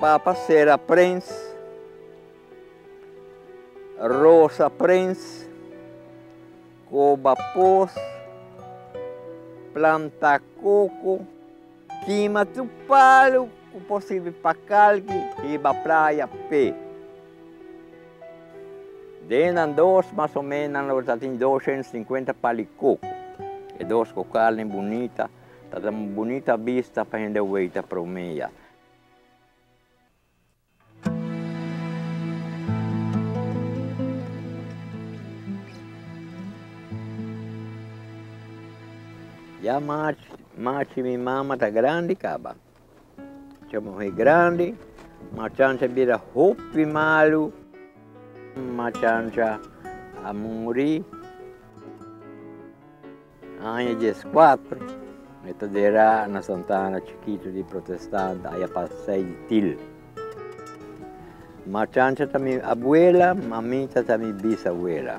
Papa Sera Prins, Rosa Prins, Koba Pos, planta koko, kima tur palu ku por sirbi pa kalki riba praya p'e. Den nan dos mas o menos nan lo ta tin dos shenta sinkuenta pali koko. E dos kokalnan bonita. Ta da un bunita bista pa hende weita prome ya. Ya machi mi mama ta grandi caba. Cha muhé grandi, machancha bira hopi malu, machancha a muri aña dies kuatro, e ta dera na Santa Ana chikitu di protestant aya pa sei di til. Machancha ta mi abuela, mamita ta mi bisabuela.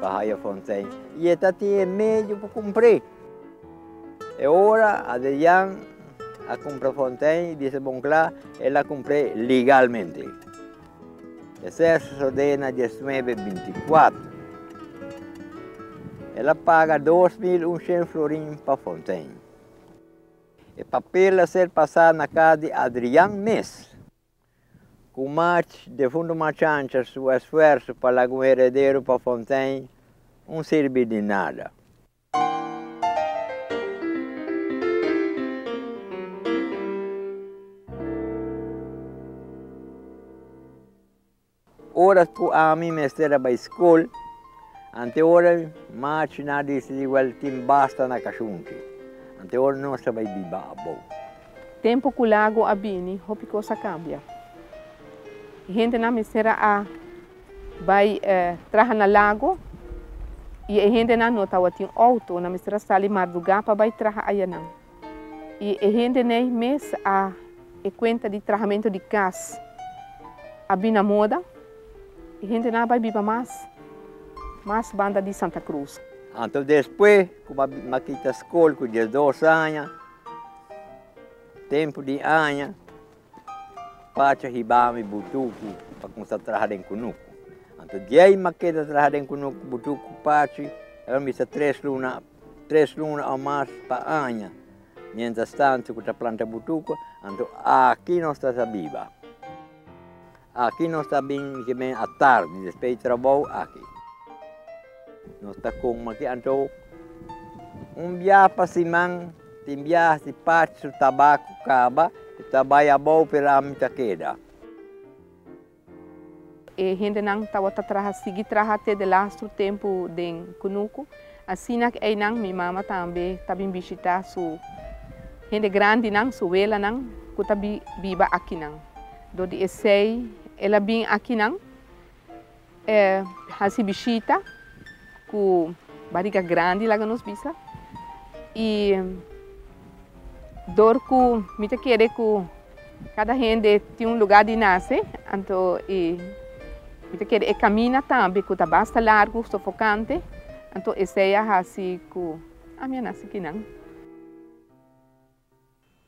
Pa haya fontein y e ta tin e medio pa cumpre. E ora Adrian a cumpra fontein y bisa bon cla el a cumpre legalmente. Esey a sosode na diasnuebe binti cuatro. El a paga dos mil uncient florin pa fontein. E papel a ser pasa na cas di Adrian mes. Cu March de Fundo Marchancha su esfuerso pa laga un heredero pa Fontein un sirbi di nada. Oras ku ami mester a bai skol, anteora mi March na disidí wèl tin basta na kashunchi. Anteora nos ta bai biba abou. Tempu ku Lago a bini, hopi kos a kambia. E hendenan mester a bai traha na Lago i e hendenan no tabatin outo, nan mester a sali mardugá pa bai traha ayanan. I e hende n'ei mes a e kuenta di trahamentu di kas a bini na moda, e hende nan a bai biba mas mas banda di Santa Cruz. Anto despue ku m'a kita skol ku diesdos aña, tempu di aña. Pacha hibami e butuku pa kumsa traha den kunuku. Anto diei ma keda traha den kunuku butuku pachi e lo mester tres luna tres luna o mas pa aña. Mientras tanto ku ta planta butuku anto aki nos ta sa biba. Aki nos ta bin ki men a tardi despe di trabou aki. Nos ta coma ki anto un biaha pa siman, tin biaha si parti su tabaco caba e ta bay abou pero ami ta keda. E hendenan tawata traha sigui traha te de lastro tempo den Cunucu. Asina cu eynan mi mama tambe ta bin bishita su hende grandinan, su welanan cu ta biba akinan. Dor di esei el a bin akinan, e hasi bishita ku bariga grandi, laga nos bisa. I dor ku mi ta kere ku kada hende tin un lugá di nase, anto e mi ta kere e kamina tambe ku ta basta largu, sofokante, anto esei a hasi ku ami a nase kinan.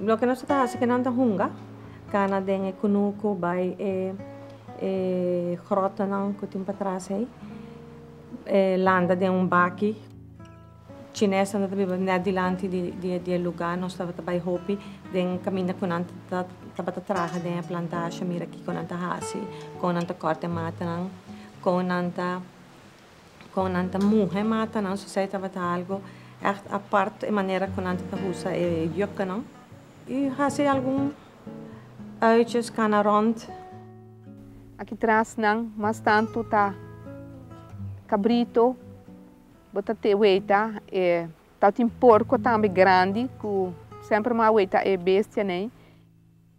Loke nos ta hasi ke nan ta hunga kana den e kunuku bai e e grotonan ku tin patras ei e landa den un baki chinesnan ta biba nèt dilanti di e luga nos tabata bai hopi den kaminda ku nan tabata traha den e plantasha mira kiko nan ta hasi kon nan ta kòrta e matanan kon nan ta Con nan ta muhe mata nan so esey tabata algo echt apart e manera cu nan ta ta usa e jukkenan y haci algun uitjes cana rond. Aki tras nan mas tanto ta cabrito bo ta te weta e tao tin porco tambe grandi cu semper mo a weta e bestia nei.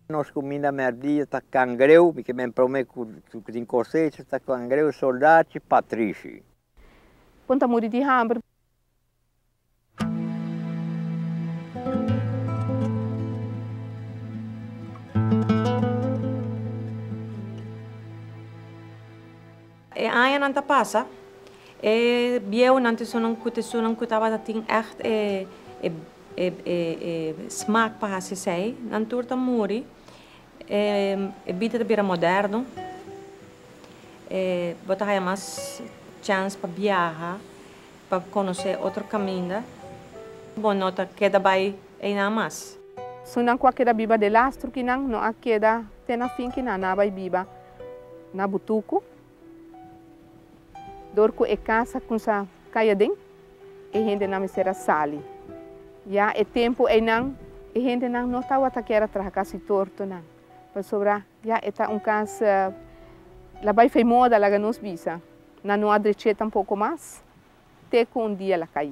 Nos kuminda mèrdia ta kangreu, mi ke men promé ku ku tin kosecha ta kangreu, soldachi, patrishi. Bon ta muri di hamber. E añanan ta pasa, e bieunan, tisonan ku tisonan ku tabata tin ègt e smak pa hasi esei, nan tur ta muri. E bida ta bira moderno, bo ta haya mas chèns pa biaha, pa konosé otro kaminda, bo no ta keda bai einan mas. Sunnan ku a keda biba delastru kinan no a keda te na fin kinan a bai biba. Na butuku, dor ku e kasa kumsa kai aden, e hendenan mester a sali. Ya e tempu einan e hendenan no tabata kier a traha kas di tortonan, pasobra ya e ta un kas la bai fei moda, laga nos bisa. Nan no a drech'é tampoko mas te ku un dia la kai.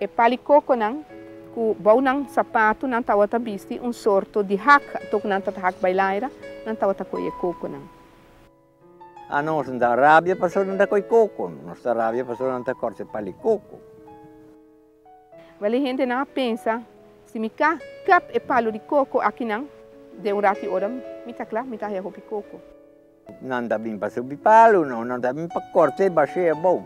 E palikokonan ku bou nan sapatu nan tabata bisti un sorto di hak, anto ku nan ta ta hak bailaira, nan tabata koi e kokonan. A nos no ta rabia pasobra nan ta koi koko, nos ta rabia pasobra nan ta kòrse palikoko. Wèl e hendenan a pensa, Si mi ka kap e palu di koko akinan den un rati ora, mi ta kla mi ta haya hopi koko. Nan ta bin pa subi palu, no, nan ta bin pa kòrt'é bash'é abou.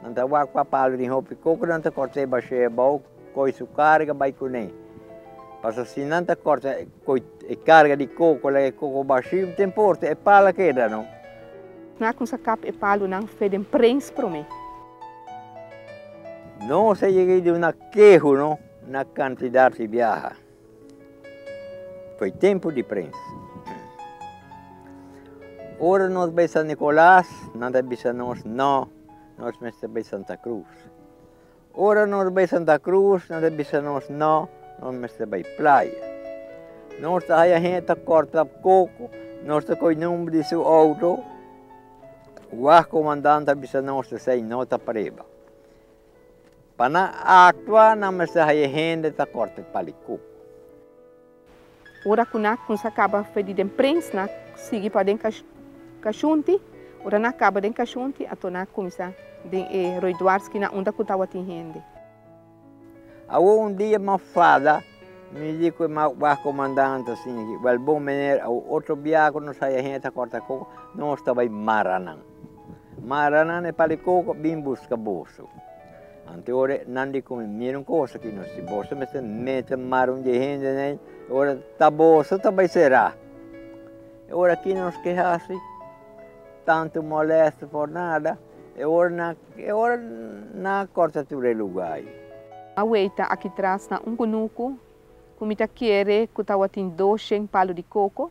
Nan ta wakpa palu den hopi koko, nan ta kòrt'é bash'é abou, koi su karga bai kuné. Pasobra si nan ta kòrta koi e karga di koko, laga e koko bashí, den porta e pal a keda, no. Nan a kuminsá a kap e palunan fe den prens promé. Nos a yega di una kehu, no, na kantidat di biaha. Foi tempu di prensa. Ora nos bai San Nicolas, nan ta bisa nos, no, nos mester bai Santa Cruz. Ora nos bai Santa Cruz, nan ta bisa nos, no, nos mester bai playa. Nos ta haya hende ta corta coco, nos ta coi number di su auto, wah comandante ta bisa nos esey no ta preba. Pa nan actua nan mester haya hende ta corte palicuk. Ora cu na cunsa caba fe di den prins na sigui pa den cashunti, ora na caba den cashunti ato na cuminsa den e roiduarski na unda cu tawatin hende. Awo un dia Mafada mi di cu e mas wah comandante asina ki, Well bon meneer awo otro bia cu nos haya hende ta corte coco, nos ta bay mara nan. Mara nan e palikoko bin buska boso. Anto ora nan di con e mira un cosa aki no si boso mester mete mara un dje hende nei e ora ta boso ta bai sera. E ora aki nos ke hasi tanto molesto por nada e ora nan e ora nan corta tur e lugar ayi. Aweyta aki tras na un kunuku ku mi ta kere ku tawatin dosheng palu di koko